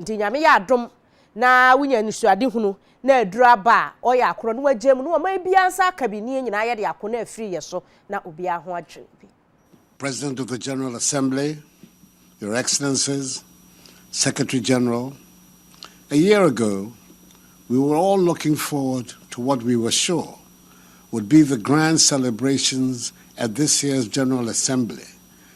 Nti Nyame yɛ adom na wonya anisoadehunu na aduru aba a, ɔyɛ akorɔ na wagyae mu na wama obiara nsa aka bi ne yɛn nyinaa yɛde ako na afiri yɛ so na obiara ho adwene bi. President of the General Assembly, Your Excellencies, Secretary General, a year ago we were all looking forward to what we were sure would be the grand celebrations at this year's General Assembly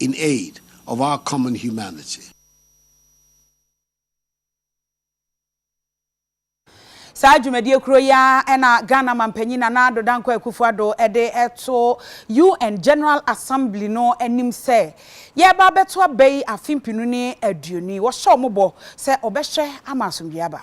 in aid of our common humanity. Saa dwumadie koro yi ara na Ghana Mampanyin Nana Addo Dankwa Akufo Addo de to UN General Assembly no anim sɛ yɛreba abɛto aba yi afe mpenu ne aduonu yi. Wɔhyɛ wɔn bɔ sɛ wɔbɛhwɛ ama asomdwoeɛ aba.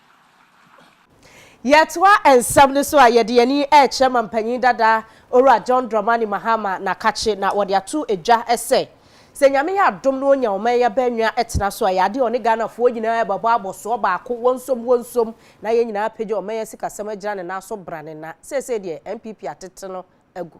Yɛtoa nsɛm no so a, yɛde yɛn ani rekyerɛ Mampanyin dada Owura John Dramani Mahama Nakakye na wɔde ato dwa sɛ, sɛ Nyame yɛ adom na onya ɔman yi abannwa tena so a, ɛyɛ ade a ɔne Ghanafoɔ nyinaa ɛbɛbɔ abɔsoɔ baako, wɔnsom wɔnsom na yɛn nyinaa apagya ɔman yi asikasɛm agyina ne nan so bra ne na. Seesei deɛ, NPP atete no agu.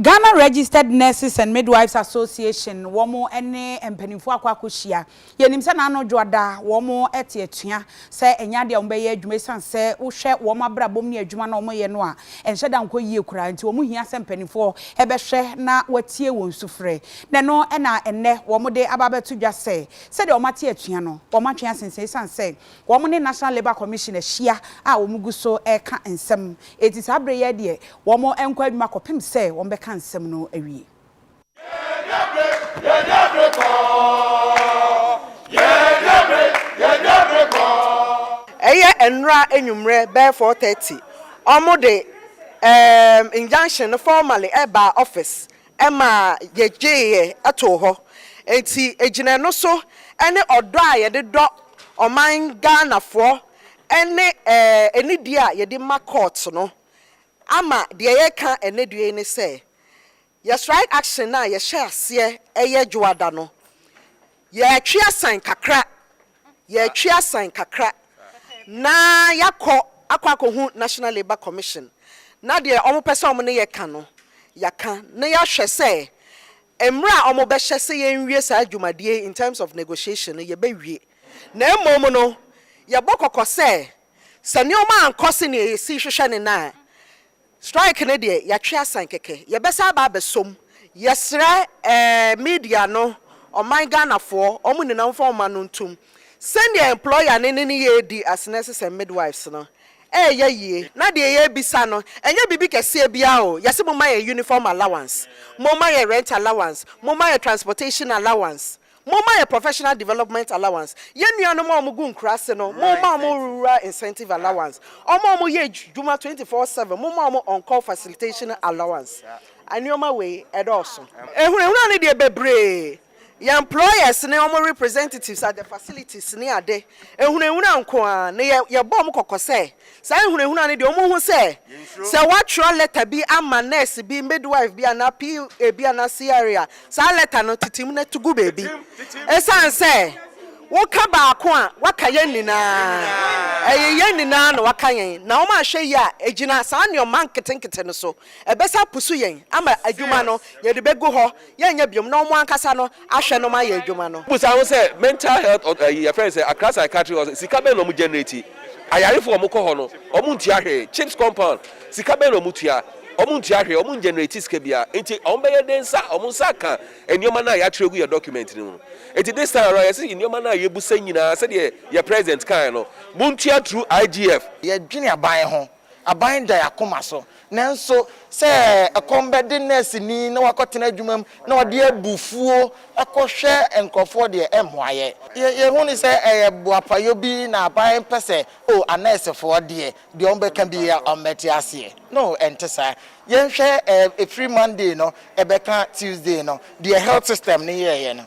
Ghana Registered Nurses and Midwives Association wɔn ne mpaninfoɔ akɔ akɔhyia. Yɛnim sɛ n'ano dwo ada, wɔn te atua sɛ ɛnyɛ adeɛ a wɔn bɛyɛ adwuma ɛsiane sɛ wohwɛ wɔn abrabɔm ne adwuma no a wɔyɛ no a ɛnhyɛ da nkɔ yie koraa nti wɔn hia sɛ mpaninfoɔ bɛhwɛ na wɔatie wɔn sufrɛ na ɛno na ɛnnɛ wɔn de aba abɛto dwa sɛ sɛdeɛ wɔn ate atua no wɔn atwe asensɛn ɛsiane sɛ Wɔn ne National Labour Commission ahyia a wɔn gu so reka nsɛm. Enti saa bere yɛ deɛ wɔn nkɔ adwuma kɔpem sɛ wɔn bɛka nsɛm no awie. Yɛnyɛ bere, yɛnyɛ bere kɔ. Yɛnyɛ bere, yɛnyɛ bere kɔ. Ɛyɛ nnora anwummerɛ bɛyɛ four thirty, wɔn de ɛɛm injunction no formally baa office ma yegyeeɛ too hɔ. Enti ɛgyina ɛno so ne ɔdɔ a yɛde dɔ ɔman Ghanafoɔ ne anidie a yɛde ma court no ama deɛ yɛreka ɛnnɛ due yi ne sɛ, yɛ strike action no a yɛhyɛɛ aseɛ yɛ Dwoada no, Yɛretwe asan kakra, yɛretwe asan kakra na yɛakɔ akɔ akɔhu National Labour Commission na deɛ wɔpɛ sɛ wɔne yɛ ka no, yɛaka na yɛahwɛ sɛ mmerɛ a wɔbɛhyɛ sɛ yɛnwie saa dwumadie yi in terms of negotiation no, yɛbɛwie. Na mmom no, yɛbɔ kɔkɔ sɛ, sɛ nneɛma ankɔ sɛdeɛ yɛsi hwehwɛ no no a, Strike no deɛ yɛatwe asan kɛkɛ. Yɛbɛsan aba abɛsɔ mu. Yɛsrɛ eh media no, ɔman Ghanafoɔ, wɔn nyinaa wɔmfa wɔn mma no ntom. Sɛdeɛ employer no ne no redi as nurses and midwives no, ɛreyɛ yie. Na deɛ yɛrebisa no, ɛnyɛ biribi kɛseɛ biara o. Yɛse momma yɛn uniform allowance, momma yɛn rent allowance, momma yɛn transportation allowance. Momma yɛ professional development allowance yɛn nuanom a wɔgu nkuraase no momma wɔn rural incentive allowance wɔn a wɔyɛ adwuma twenty four seven momma wɔn on call facilitation allowance nnoɔma wei ɛdɔɔso. Ahunahuna no deɛ bebree yɛ employers ne wɔn representatives at the facilities ne ade ahunahuna nko ara na yɛbɔ wɔn kɔkɔ sɛ Saa nhunahuna no deɛ wɔn ho sɛ, sɛ wɔatwerɛ lɛta bi ama nurse bi, midwife bi anaa PA bi anaa CRA a, saa lɛta no tete mu na to gu baabi. Ɛsiane sɛ woka baako a, woaka yɛn nyinaa. Ɛyɛ yɛn nyinaa na woaka yɛn, na wɔn anhwɛ yie a, ɛgyina saa nneɛma nketenkete no so, ɛbɛsa apusu yɛn ama adwuma no, yɛde bɛgu hɔ. yɛnyɛ biom na ɔmo ankasa no ahwɛ nom ayɛ adwuma no. Bisa ho sɛ mental health ɔt ɛyi yɛfrɛ no sɛ Accra psychiatry hospital sika bɛn na ɔmo generate? Ayarefo a ɔmo kɔ hɔ no ɔmo ntua hwee, chips compound sika bɛn na ɔmo tua? Ɔmo ntua hwee, ɔmo ngenerate sika biara nti ɔmo bɛyɛ dɛn nsa ɔmo nsa aka nneɛma no a yɛatwerɛ agu yɛ document no mu no? Nti this time around yɛse nneɛma no a yɛbusa nyinaa sɛdeɛ yɛ president kaeɛ no montua through IGF. Yɛdwene aban ho Aban da yɛn akoma so. Nanso sɛ ɛkɔm bɛde nɛɛseni na wakɔtena adwumam na ɔde abufuo kɔhwɛ nkurɔfoɔ deɛ, ɛremmoa yɛn. Yɛhu no sɛ ɛyɛ boapayɔ bi na aban pɛ sɛ, oh, anɛɛsefoɔ deɛ, deɛ wɔbɛka biara wɔbɛte aseɛ. No, ɛnte saa. Yɛnhwɛ ɛfiri Monday no bɛka Tuesday no, deɛ health system no yɛeɛ no,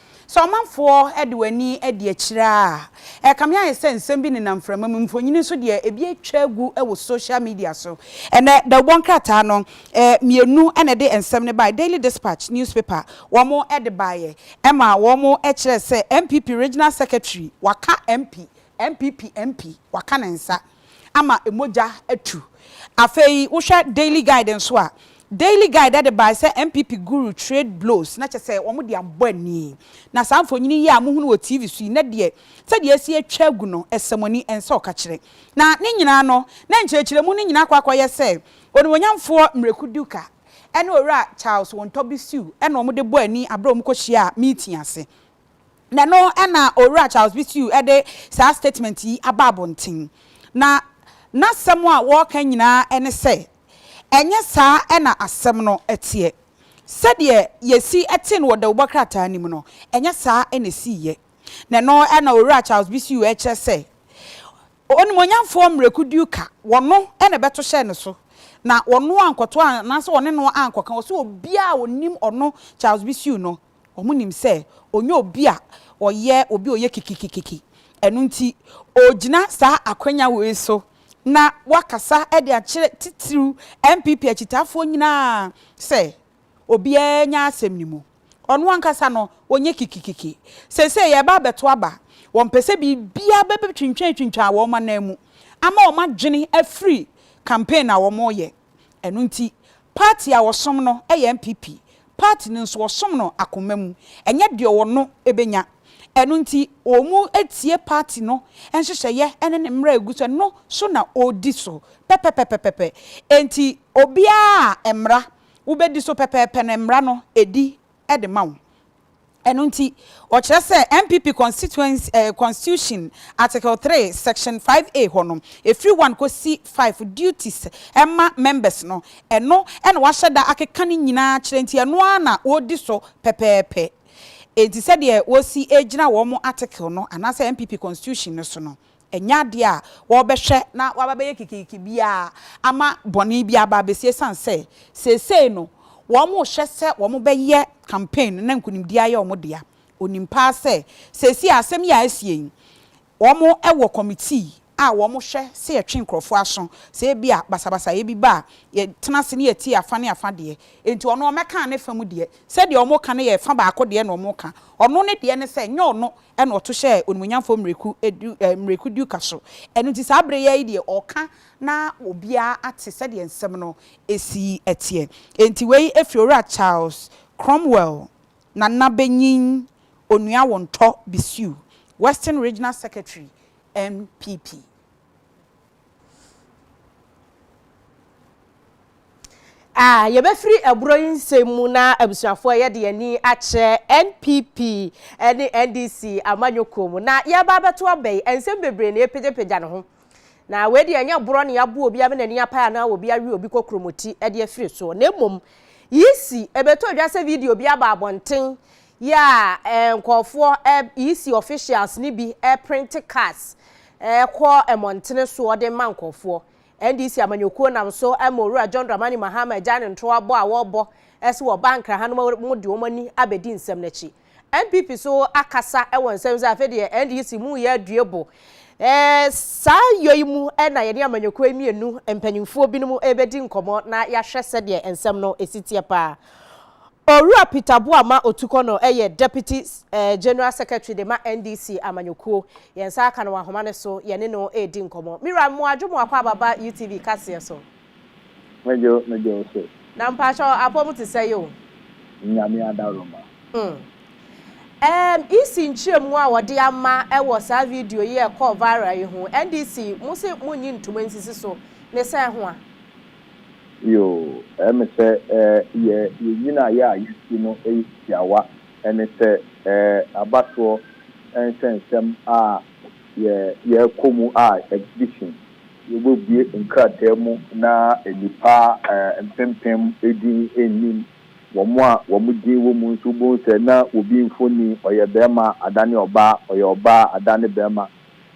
Sɛ ɔmanfoɔ de wɔn ani adi akyire a, ɛrekame ayɛ sɛ nsɛm bi nenam mframa mu. Mfonini nso deɛ, ebi atwa agu wɔ social media so. Ɛnnɛ, dawubɔ nkrataa no, mmienu na ɛde nsɛm no baeɛ, Daily Dispatch newspaper, wɔde baeɛ ma wɔkyerɛɛ sɛ, NPP Regional Secretary waka MP, NPP MP waka ne nsa. ama mogya atu. Afei wohwɛ Daily Guide nso a, Daily Guide de bae sɛ NPP guru trade blows, na kyerɛ sɛ wɔde abɔ ani. Na saa mfonini yi a mohu no wɔ TV so yi, na deɛ sɛdeɛ asi atwa agu no, ɛsɛmɔni, ɛnsɛ ɔkakyerɛ. Na ne nyinaa no, na nkyerɛkyerɛmu no nyinaa akɔ akɔyɛ sɛ Onimuonyamfoɔ Miraku Duka ne Owura Charles Wontɔ Bisiw na wɔde bɔ ani berɛ a wɔkɔhyiaa meeting ase. Na ɛno na Owura Charles Bisiu de saa statement yi aba abɔnten. Na n'asɛm a wɔreka nyinaa ne sɛ, ɛnyɛ saa na asɛm no teɛ. Sɛdeɛ yɛsi tee no wɔ dawubɔ krataa no mu no, ɛnyɛ saa na ɛsiiɛ. Na ɛno na Owura Charles Bisiu rekyerɛ sɛ, onimuonyamfoɔ Miracle Duka, wɔno na ɛbɛto hyɛɛ no so, na wɔno ankɔto anaasɛ wɔne no ankɔka. Ɔse obiara a ɔnim ɔno Charles Bisiu no, Wɔnim sɛ ɔnyɛ obi a ɔyɛ obi a ɔyɛ kikikikiki. Ɛno nti, ɔregyina saa akwanya wei so na wakasa de akyerɛ titiriw NPP akyitaafoɔ nyinaa sɛ obiara nya asɛm no mu. Ɔno ankasa no, ɔnyɛ kikikiki. Seesei yɛreba abɛto aba. Wɔmpɛ sɛ biribiara bɛbɛtwintwantwintwan wɔn ananmu ama wɔadwene afiri campaign a wɔreyɛ. Ɛno nti, party a wɔsom no yɛ NPP, party no nso wɔsom no akoma mu, ɛnyɛ deɛ ɔwɔ no bɛnya. Ɛno nti, wɔtie party no nhyehyɛeɛ ne ne mmara a ɛgu so, ɛno so na wɔdi so pɛpɛpɛpɛpɛ. Enti obiara a mmara wobɛdi so pɛpɛɛpɛ no, mmara no ɛdi de ma wo. Ɛno nti, wɔkyerɛ sɛ NPP constituency ɛɛ constitution article three section five A hɔ no, ɛfiri one kɔsi five duties ɛma members no, ɛno na wɔahyɛ da akeka ne nyinaa akyerɛ nti ɛno ara na wɔredi so pɛpɛɛpɛ. Ɛnti sɛdeɛ wɔsi ɛgyina wɔn article no anaasɛ NPP constitution no so no, Ɛnyɛ adeɛ a wɔbɛhwɛ na wɔaba abɛyɛ kikiriki biara ama bɔne biara aba abɛsi ɛsiane sɛ seesei no wɔrehwɛ sɛ wɔbɛyɛ campaign no na nkunimdie ayɛ wɔn dea. Ɔnim paa sɛ seesei a asɛm yi a asie yi wɔwɔ committee a wɔhwɛ sɛ yɛtwe nkurɔfoɔ aso sɛ ebia basabasayɛ bi ba a yɛtena ase na yɛtie afa ne afa deɛ enti ɔno ɔmmɛka ne fa mu deɛ sɛdeɛ wɔka no yɛ fa baako deɛ na wɔka ɔno ne deɛ ne sɛ ɛnyɛ ɔno ɛna ɔto hyɛɛ Onimuonyamfoɔ mmireku du eh, mmireku duka so. Ɛno nti saa bere yi ara yi deɛ ɔreka na obiara ate sɛdeɛ nsɛm no si teɛ. Enti wei firi Owura Charles Cromwell Nana Benyin Onuawontɔ Bisiu, Western Regional Secretary, NPP. A Yɛbɛfiri aburo yi nsɛm mu na abusuafoɔ yɛde yɛn ani akyerɛ NPP ne NDC amanyɔkuo mu. Na yɛreba abɛto aba yi, nsɛm bebree na ɛrepagyapagya ne ho. Na wei deɛ ɛnyɛ borɔ na yɛaboa obi ama n'ani apae anaa obi awe obi kokromoti de afiri soɔ. Na mmom, yisi ɛbɛtɔ dwa sɛ video bi aba abɔnten Yɛ a nkorɔfoɔ, EC officials, no bi prente cards kɔ mmɔntene soɔ de ma nkorɔfoɔ. NDC amanyɔkuo nam so ma Owura John Dramani Mahama agyae ne ntoa bɔ a wɔrebɔ sɛ wɔba Nkra ha no ma wɔde wɔn ani abɛdi nsɛm no akyi. NPP nso akasa wɔ nsɛm sɛ afei deɛ NDC mo yɛ adue bo. Saa yɔ yi mu na yɛne amanyɔkuo yi mmienu mpanimfoɔ binom rebɛdi nkɔmmɔ na yɛahwɛ sɛdeɛ nsɛm no si teɛ pa ara. Owura Peter Boamah Otukor no yɛ Deputy General Secretary de ma NDC amanyɔkuo. Yɛn nsa aka no wɔ ahoma no so, yɛne no redi nkɔmmɔ. Me wura, mmoa dwo mo akɔ aba ba UTV kaseɛ so. Me dwo, me dwo wo so. Na mpakyɛ wo, apɔ mu te sɛ yi o. Nyame adaroma. Humm. EC nkyerɛmu a wɔde ama wɔ saa video yi a ɛkɔɔ viral yi ho, NDC, mo se monnyi ntoma nsisi so, ne sɛn ho a? Yoo, ɛyɛ me sɛ yɛ yɛn nyinaeɛ a yɛasi no yɛ tiawa, ɛne sɛ aba soɔ nsɛnsɛm a yɛ yɛkɔ mu a exhibition yɛbɛbue nkrataa mu na nnipa mpempem din nnim wɔn a wɔn din wɔ mu nso wobɛhu sɛ na obi mfoni ɔyɛ barima adane ɔbaa, ɔyɛ ɔbaa adane barima.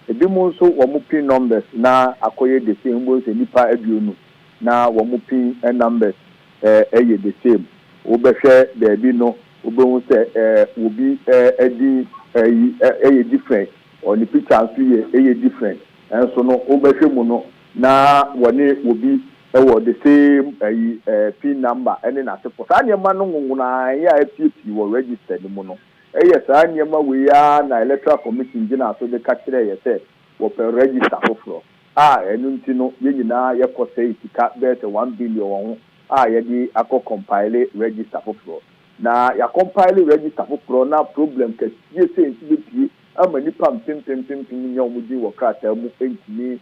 Ebi mo nso wɔ mo pin numbers na akɔyɛ the same wobɛhu sɛ nnipa aduonu na wɔ mo pin numbers ɛɛ yɛ the same wobɛhwɛ baabi no wobɛhu sɛ ɛɛ wɔ bi ɛɛ din ɛyi ɛyɛ different ɔ ne picture nso yɛ ɛyɛ different nso no wobɛhwɛ mu no na wɔ ne wɔ bi ɛwɔ the same ɛyi ɛɛ pin number ɛne n'asefoɔ saa nneɛma no nwonwonaeɛ a ɛpie pii wɔ register no mu no. Ɛyɛ saa nneɛma wei ara na Electoral Commission gyinaa so de ka kyerɛɛ yɛ sɛ wɔpɛ register foforɔ a ɛno nti no yɛ nyinaa yɛkɔ sɛe sika bɛyɛ sɛ one billion wɔ ho a yɛde akɔ compile register foforɔ. Na yɛacompile register foforɔ na problem kɛseɛ sei nso bɛpue ama nnipa mpempem mpempem nnya wɔn din wɔ krataa mu ntumi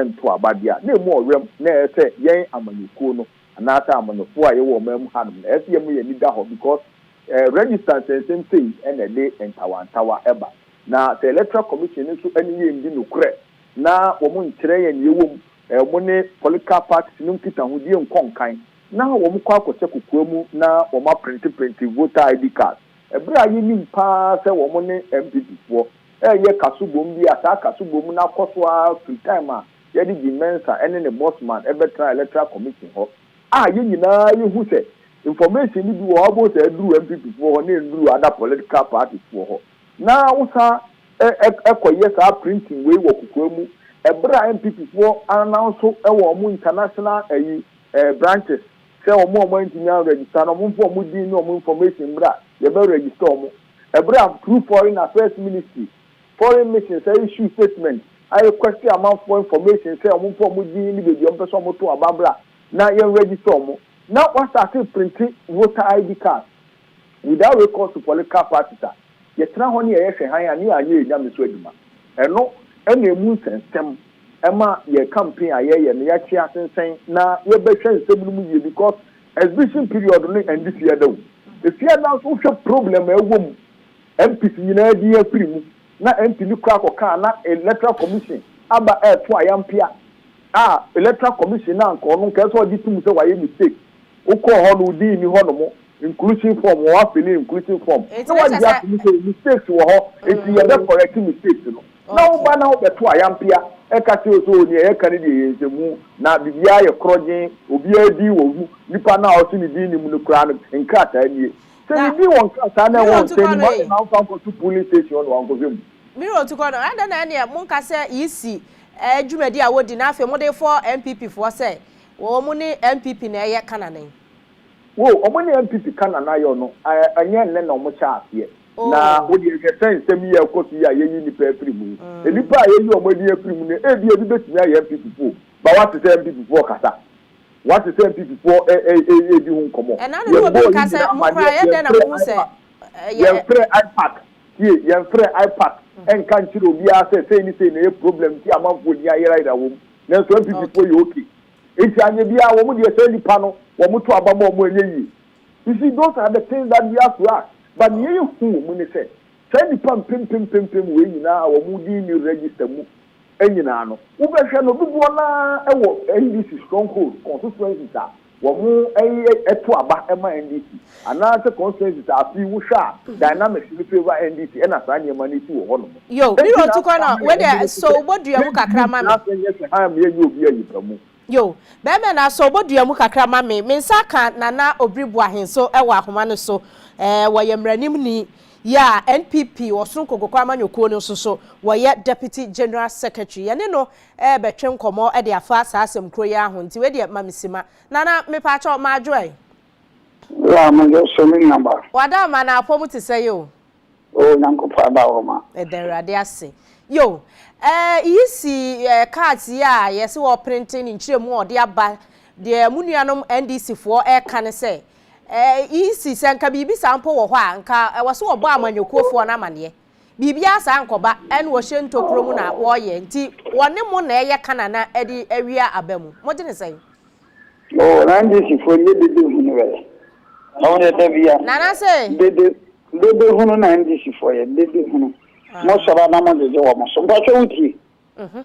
nto aba deɛ a, na ɛmu ɔwɛ m'. Na ɛyɛ sɛ yɛn amanyɔkuo no anaasɛ amanyɔfoɔ a yɛwɔ ɔman mu hanom no ɛyɛ sɛ yɛn mu yɛn ani da hɔ because Register nsɛnsɛm sei na ɛde ntawantawa ba. Na sɛ Electoral Commission no nso ne yɛn nni nokorɛ na wɔn nkyerɛ yɛn deɛ ɛwɔ mu, wɔn ne political parties no nkitahodie nkɔ nkan na wɔn kɔ akɔhyɛ kokoa mu na wɔn aprente prente voter ID card ɛberɛ a yɛnim pa ara sɛ wɔn ne NPP foɔ reyɛ kaso bom bi a saa kaso bom no akɔ so ara firi time a yɛde Jim Mensah ne ne boss man bɛtena Electoral Commission hɔ. A yɛn nyinaa yi hu sɛ information no bi wɔ hɔ a wobɛhu sɛ aduru NPP foɔ hɔ na ɛnduru other political parties foɔ hɔ. Na wo san kɔ yɛ saa printing wei wɔ kokoa mu ɛberɛ a NPP foɔ announce wɔ wɔn international ayi branches sɛ wɔn a wɔn antumi an register no wɔn mfa wɔn din ne wɔn information mmra yɛbɛ register wɔn ɛberɛ a through foreign affairs ministry Foreign missions a issue statement a request amanfoɔ information sɛ wɔn mfa wɔn din ne baabi a wɔpɛ sɛ wɔn to aba mmra na yɛn register wɔn. Na wastate printi voter ID cards without recourse to political parties a yɛtena hɔ ne yɛyɛ hwɛ hann a ne yɛanyɛ yɛn Nyame so adwuma. Ɛno na ɛmu nsɛnsɛm ɛma yɛn campaign a yɛyɛ no yɛakye asensɛn na yɛbɛhwɛ nsɛm no mu yie because exhibition period no ɛnde fiada o. Ɛfiada nso wohwɛ problem a ɛwɔ mu MPs nyinaa din afiri mu na ɛntumi kora kɔkaa na Electoral Commission aba ɛreto ayampea a Electoral Commission no anka ɔno nka ɛsɛ ɔgye tom sɛ wayɛ mistake. Wokɔɔ hɔ no wo din nni hɔ nom inclusion form wɔ wafili inclusion form na wagye atom sɛ mistakes wɔ hɔ nti yɛbɛ correct mistakes no na wo ba na wo bɛto ayampea ɛka kyerɛ wo sɛ oo nea yɛka no deɛ yɛ nsɛmhu na biribiara yɛ korɔgyen obiara din wɔ mu nipa no a ɔse ne din nni mu no koraa no nkrataa nie. Sɛ ne din wɔ nkrataa na ɛwɔ nsɛm no mu a, adɛn na womfa nkɔto polling station hɔ na wankɔhwɛ mu? Mirror to kɔ no, adɛn na ɛnneɛ monka sɛ EC dwumadi a wɔdi na afei mode fɔ NPP foɔ sɛ wɔn ne NPP na ɛyɛ kanane? Wo, wɔn ne NPP kanane ayɔ no, ɛnyɛ nnɛ na wɔn hyɛɛ aseɛ. Na wo deɛ hwɛ sɛ nsɛm yi a ɛkɔ so yi a yɛyi nnipa afiri mu yi, nnipa a yɛyi wɔn din afiri mu no, ebia ebi bɛtumi ayɛ NPP foɔ o, ma woate sɛ NPP foɔ kasa. Woate sɛ Mpipifoɔ redi ho nkɔmmɔ. Ɛna no na obi reka sɛ, Mokoraa, ɛyɛ dɛn na mohu sɛ ɛyɛ. Yɛmfrɛ IPAC, tie, yɛmfrɛ IPAC nka nkyerɛ obiara sɛ sei ne sei na ɛyɛ problem nti a amanfoɔ din ayerayera wɔ mu. Nanso Mpipifoɔ yɛ ok. Enti anyɛ biara, wɔn deɛ saa nnipa no, wɔto aba ma wɔn a ɛnyɛ yie. You see, those are the things that we have to ask. But nea yɛhu wɔ mu ne sɛ, saa nnipa mpempem mpempem wei nyinaa a wɔn din nni register mu nyinaa no, wobɛhwɛ no dodoɔ no ara wɔ NDC strongholds, constituencies a wɔyɛ to aba ma NDC, anaasɛ constituencies a afei wohwɛ a dynamics no favour NDC na saa nneɛma no si wɔ hɔnom. Enti na afei na mede no so sɛ yɛntumi ntra ase nyɛ hyɛ ha mma yɛnyɛ obi ayipamu. Yo, bɛɛma no asɔ obodua mu kakra ma me. Me nsa aka Nana Obiri Boahen so wɔ ahoma no so. Ɛɛ, wɔyɛ mmaranimni. Yaa, NPP, Ɔsoro Nkonkokɔ Amanyɔkuo no nso so, wɔyɛ Deputy General Secretary. Yɛne no rebɛtwe nkɔmmɔ de afa saa asɛm korɔ yi ara ho. Nti wei deɛ ma me sima. Nana, mepaakyɛw, m'adwoɛ. Wo a, m'adwoɛ so, me nuaba. W'adaama no apɔ mu te sɛn o? Oh Nyankopɔn aba wo ma. Yɛda Awurade ase. Yo! Eh, iyi si eh, cards yi a yɛse wɔreprente ne nkyerɛmu a ɔde aba, deɛ mo nuanom NDC foɔ reka ne sɛ, eh, iyi si sɛ nka biribi saa mpo wɔ hɔ a, nka ɛwɔ sɛ wɔbɔ amanyɔkuofoɔ no amaneɛ. Biribiara saa nkɔba, ɛne wɔhyɛ ntokuro mu na wɔreyɛ, nti wɔne mo na ɛreyɛ kanana de awia aba mu. Mogye ne sɛn? Oh Randisi fo nye dede hunu bɛ na wo yɛ dɛbi ya. Nana se. Dede dede hunu na Randisi fo yɛ dede hunu mo sɔrɔ na mo dede wɔ mo so mpatwa wo tie. Mhm.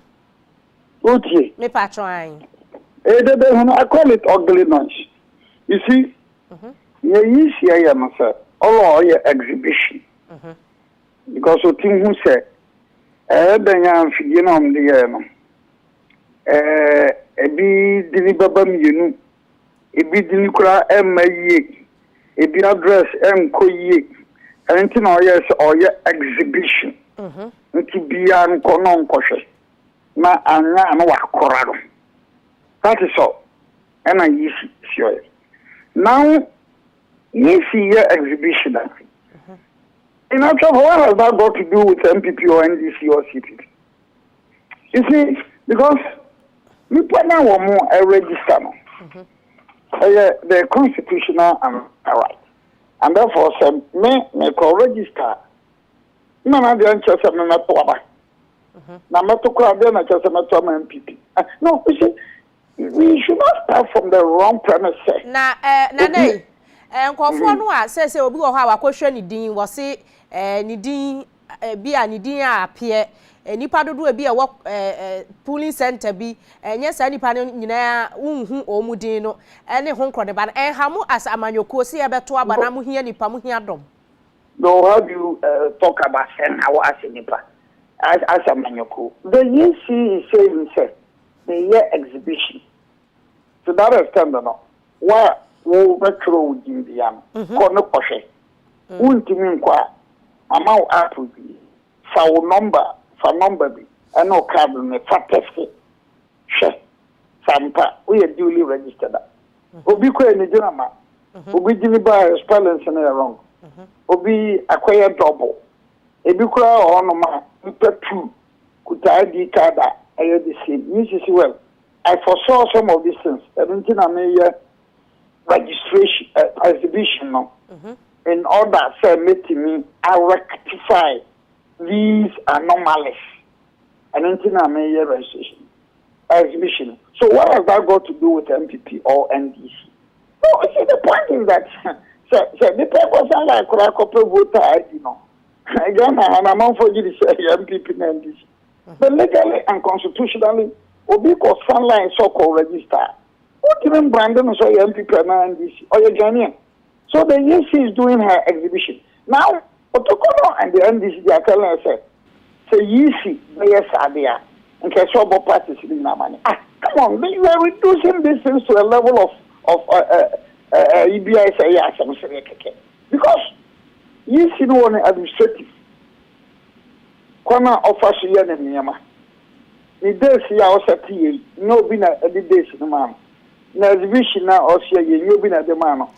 Wo tie. Me patwa anyi. Eh dede hunu I call it ugly noise you see. Mhm. Nye yi si ɛyɛ no sɛ ɔlɔ ɔyɛ exhibition. Mhm. Because otim hu sɛ ɛyɛ dɛn a mfidie na ɔmo de yɛɛ no ɛɛ, ebi dini bɛba mmienu, ebi dini koraa ɛmma yie, ebi address ɛnkɔ yie, ɛno nti na ɔyɛ sɛ ɔyɛ exhibition. Mhm. Nti biara nkɔ na ɔnkɔhwɛ na anya na wakora no. That is all. Ɛna yisi si ɔyɛ. Now yisi yɛ exhibition a. Mhm. In actual fact, what has that got to do with MPP or NDC or CPP? You see, because nipa na wɔn mo register no, ɛyɛ mm-hmm. the constitutional right. And therefore, sɛ me me kɔ register, na na deɛ nkyɛ sɛ me mɛto aba. Mm-hmm. Na mɛto kora deɛ na kyɛ sɛ mɛto ama MPP. Eh, no, you see, We should not start from the wrong premise sɛ. Na eh, na na yi, eh, nkurɔfoɔ no a sɛ sɛ obi wɔ hɔ a wakɔhwɛ ne din, wɔse eh, ne din eh, bi a ne din a apeɛ eh, nipa dodoɔ bi a ɛwɔ eh, eh, polling center bi ɛnyɛ saa nipa no nyinaa wonhu wɔn din no ɛne ho nkorɔ ne ba no ɛnha mo as amanyɔkuo sɛ yɛbɛto aba na mo hia nipa mo hia dɔm. No, how do you uh, talk about send how as a nipa as, as amanyɔkuo? The EC is saying sɛ Meyɛ exhibition nti that extend no wo a wo bɛ twerɛ wo din bia no kɔ ne kɔ hwɛ wo ntumi nkɔ a ma ma wo app bi fa wo number fa number bi ɛne wo card no ne fa tɛste hwɛ sa mpa wo yɛ duly registered a obi kɔ yɛ ne gyina ma obi gyini ba yɛ spellings no yɛ wrong obi akɔ yɛ double ebi kura ɔhɔ no ma nipa two Kutaa di ka da ɛyɛ the same me nso si well I foresaw some of these things ɛno nti na me yɛ registration uh, exhibition no mm -hmm. in order sɛ metumi a rectify these anomalies ɛno nti na me yɛ registration exhibition so what has that got to do with MPP or NDC no see the point is that sɛ sɛ nipa kɔ san like kora kɔpɛ voter ID no. Ghana ha no amanfoɔ gye di sɛ ɛyɛ NPP na NDC. But legally and constitutionally, obi kɔ san line sɛ ɔkɔ register a, wotumi mbrande no sɛ ɔyɛ NPP anaa NDC. Ɔyɛ Ghanaian. So the EC is doing her exhibition. Now, Kotoko no and the NDC, they are telling us sɛ, sɛ EC bɛyɛ saa de a, nka ɛsɛ ɔbɔ parties no nyinaa amane. Ah, come on, they were reducing these things to a level of of ɛɛ ɛɛ ɛyi bi ayɛ sɛ ɛyɛ asɛm sereɛ kɛkɛ. Because. Iyi si no wɔ ne administrative kwan a ɔfa so yɛ ne nneɛma. Ne days yi a ɔsɛte yɛ yi, nnyɛ obi na ɛde days no maa no. Na exhibition no a ɔsoɛ yɛ yi, nnyɛ obi na ɛde maa no.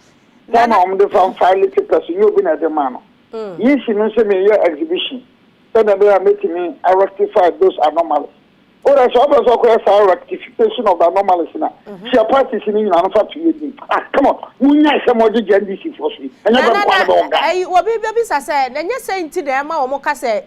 Time a wɔde fa file papers, nnyɛ obi na ɛde maa no. Iyi si no sɛ mereyɛ exhibition sɛdeɛ ɛbɛyɛ a mɛtumi a rectify those anomalies. o na sɛ ɔbɛ sɛ ɔkɔyɛ saa rectification of anomalies na hyia parties no nyinaa no fa to yɛ din ah come on munya sɛ mo gyegye ndc foɔ so yi ɛnyɛ bɛ nkwa no bɛ wɔn gaa. ɛyi obi bɛbisa sɛ na nyɛ sɛ nti na ɛma wɔn ka sɛ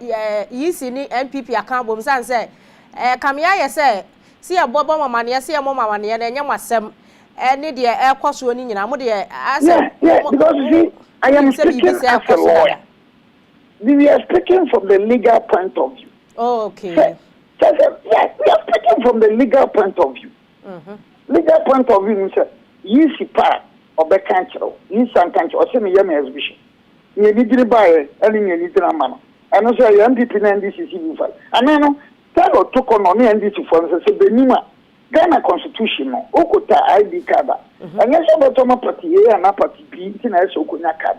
EC ne NPP aka abom sane sɛ ɛɛ kame ayɛ sɛ sɛ yɛ bɔ bɔ mo amaneɛ sɛ yɛ mo mo amaneɛ no ɛnyɛ mo asɛm ɛne deɛ ɛkɔ soɔ no nyinaa mo deɛ asɛ yeah yeah because you see I am speaking as a lawyer. we we are speaking from the legal point of view. Oh, okay. Sɛ sɛ sɛ yes we are speaking from the legal point of view. Mm -hmm. Legal point of view ni sɛ yìí si pa a ɔbɛka kyerɛ o yìí san ka kyerɛ ɔsɛ mi yɛ mi exhibition nea ni diri ba yɛ ɛne nea ni gyina ma no ɛno sɛ ɛyɛ NPP na NDC si bi fa anaa no sɛdeɛ ɔto kɔ no ɔne NDC fo no sɛ sɛ benim a Ghana constitution no okota ID card a ɛnyɛ sɛ ɔbɛtɔ ma pati A anaa pati B nti na ɛsɛ okonya card.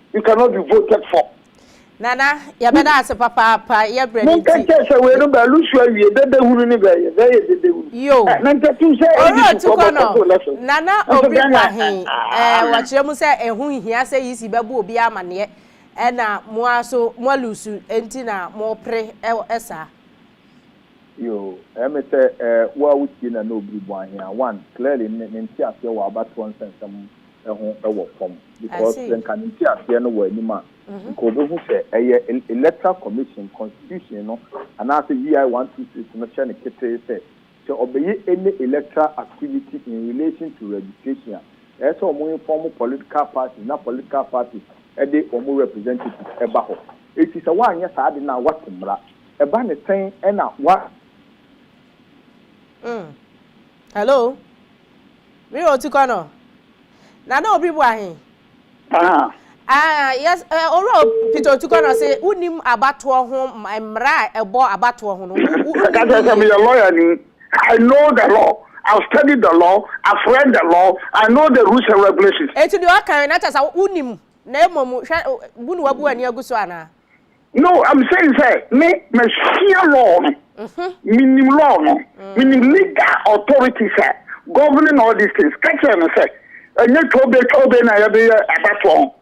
you cannot be voted for. Nana yɛbɛda ase papaapa yɛbrɛ ne nti. Monka kyɛ sɛ wei no bɛlu so awie dede hunu ne bɛyɛ bɛyɛ dede hunu. Yo. Ɛ na ntatum sɛ ɛdi su kɔ bɔ kɔto lɛso. Nana obi bua he ɛɛ wɔkyerɛ mu sɛ ɛho nhia sɛ yisi bɛbo obi amaneɛ ɛna moa so moa lusu nti na mopre ɛ saa. Yo. Ɛ me sɛ ɛɛ woa wotie Nana obi bua he a one clearly ne nteaseɛ wɔ abatoɔ nsɛnsɛm ho wɔ fam because sɛ nka ne nteaseɛ no wɔ anim a, nka ɔbɛhu sɛ ɛyɛ Electoral Commission constitution no anaasɛ VI one two six no hyɛ no ketee sɛ, sɛ ɔbɛyɛ any electoral activity in relation to registration a, ɛsɛ sɛ wɔn inform political parties na political parties de wɔn representatives ba hɔ. Enti sɛ woanyɛ saa ade no a, woate mmara. Ɛba no sɛn na wa. Mm. Hello? Me wɔ otukɔ no. Na na obi boa he? Aha. Ah, yes, eh, Owura o, Peter Otukɔ no se wonim abatoɔ ho mmara a ɛbɔ abatoɔ ho no, wo, wo, Ɛka kyerɛ sɛ meyɛ lawyer ni. I know the law. I've studied the law. I've read the law. I know the rules and regulations. Enti deɛ ɔka he, na kyerɛ sɛ wonim, na mmom hwɛ, bu ne wabu w'ani agu so anaa? no i'm saying sɛ me masua law no mm-hmm. menim law no mm. menim legal authority sɛ governing all these things ka kyerɛ no sɛ ɛnyɛ twɛwbɛ twɛwbɛ na yɛbɛyɛ abatoɔ ho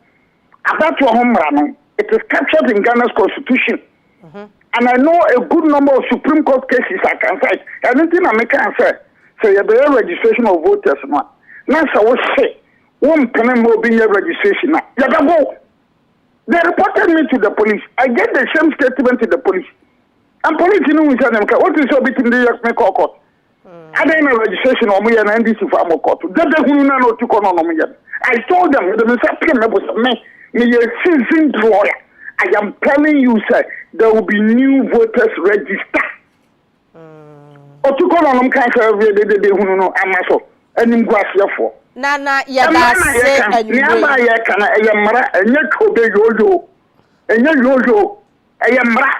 abatoɔ ho mmara no it is captured in ghana's constitution mm-hmm. and i know a good number of supreme court cases i can cite ɛno nti na meka sɛ sɛ yɛbɛyɛ registration of voters no a na sɛ wo se wo mpene ma obi nyɛ registration a yɛbɛbo They reported me to the police. I gave the same statement to the police. And police no hun sɛ ne mka wote sɛ obetumi de yɛ me kɔ court. Adɛn na registration wɔn yɛ na NDC fa mo court. Dada hunu na na otu kɔ na ɔnom yɛ no. I told them mede me nsa pem me bo sɛ me meyɛ seasoned lawyer. I am telling you sɛ there will be new voters register. Otukɔ na ɔnom kan sɛ ɔbɛyɛ dedede hunu no ama so animguaseɛfoɔ. Na na yɛda ase anwummerɛ yi. Nneɛma a yɛka no ɛyɛ mmara, ɛnyɛ obe yooyo, ɛnyɛ yooyo, ɛyɛ mmara.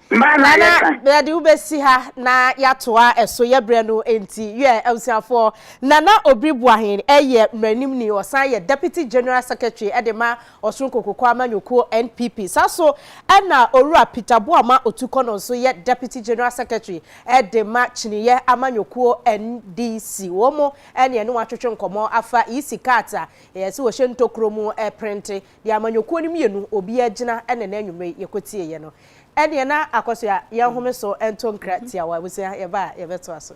Mmara na yɛka. Nana, yɛde wo bɛsi ha na yɛatoa ɛso, yɛbrɛ no nti. Yɛ abusuafoɔ, Nana Obiri Boahen yɛ mmaranimni, ɔsan yɛ Deputy General Secretary de ma Ɔsoronko Koko Amanyɔkuo, NPP. Saa so na Owura Peter Boamah Otukɔ no nso yɛ Deputy General Secretary de ma Kyiniiɛ Amanyɔkuo, NDC. Wɔn mo ne yɛne wɔn atwetwe nkɔmmɔ afa EC cards a yɛse wɔhyɛ ntokuro mu prente de amanyɔkuo no mmienu obiara gyina ɛna ɛnɛ anwumerɛ yi yɛkɔtieeɛ no. Ɛneɛ na Akosua yɛnhome so nto nkra tiawa. Abusua yɛba a yɛbɛtoa so.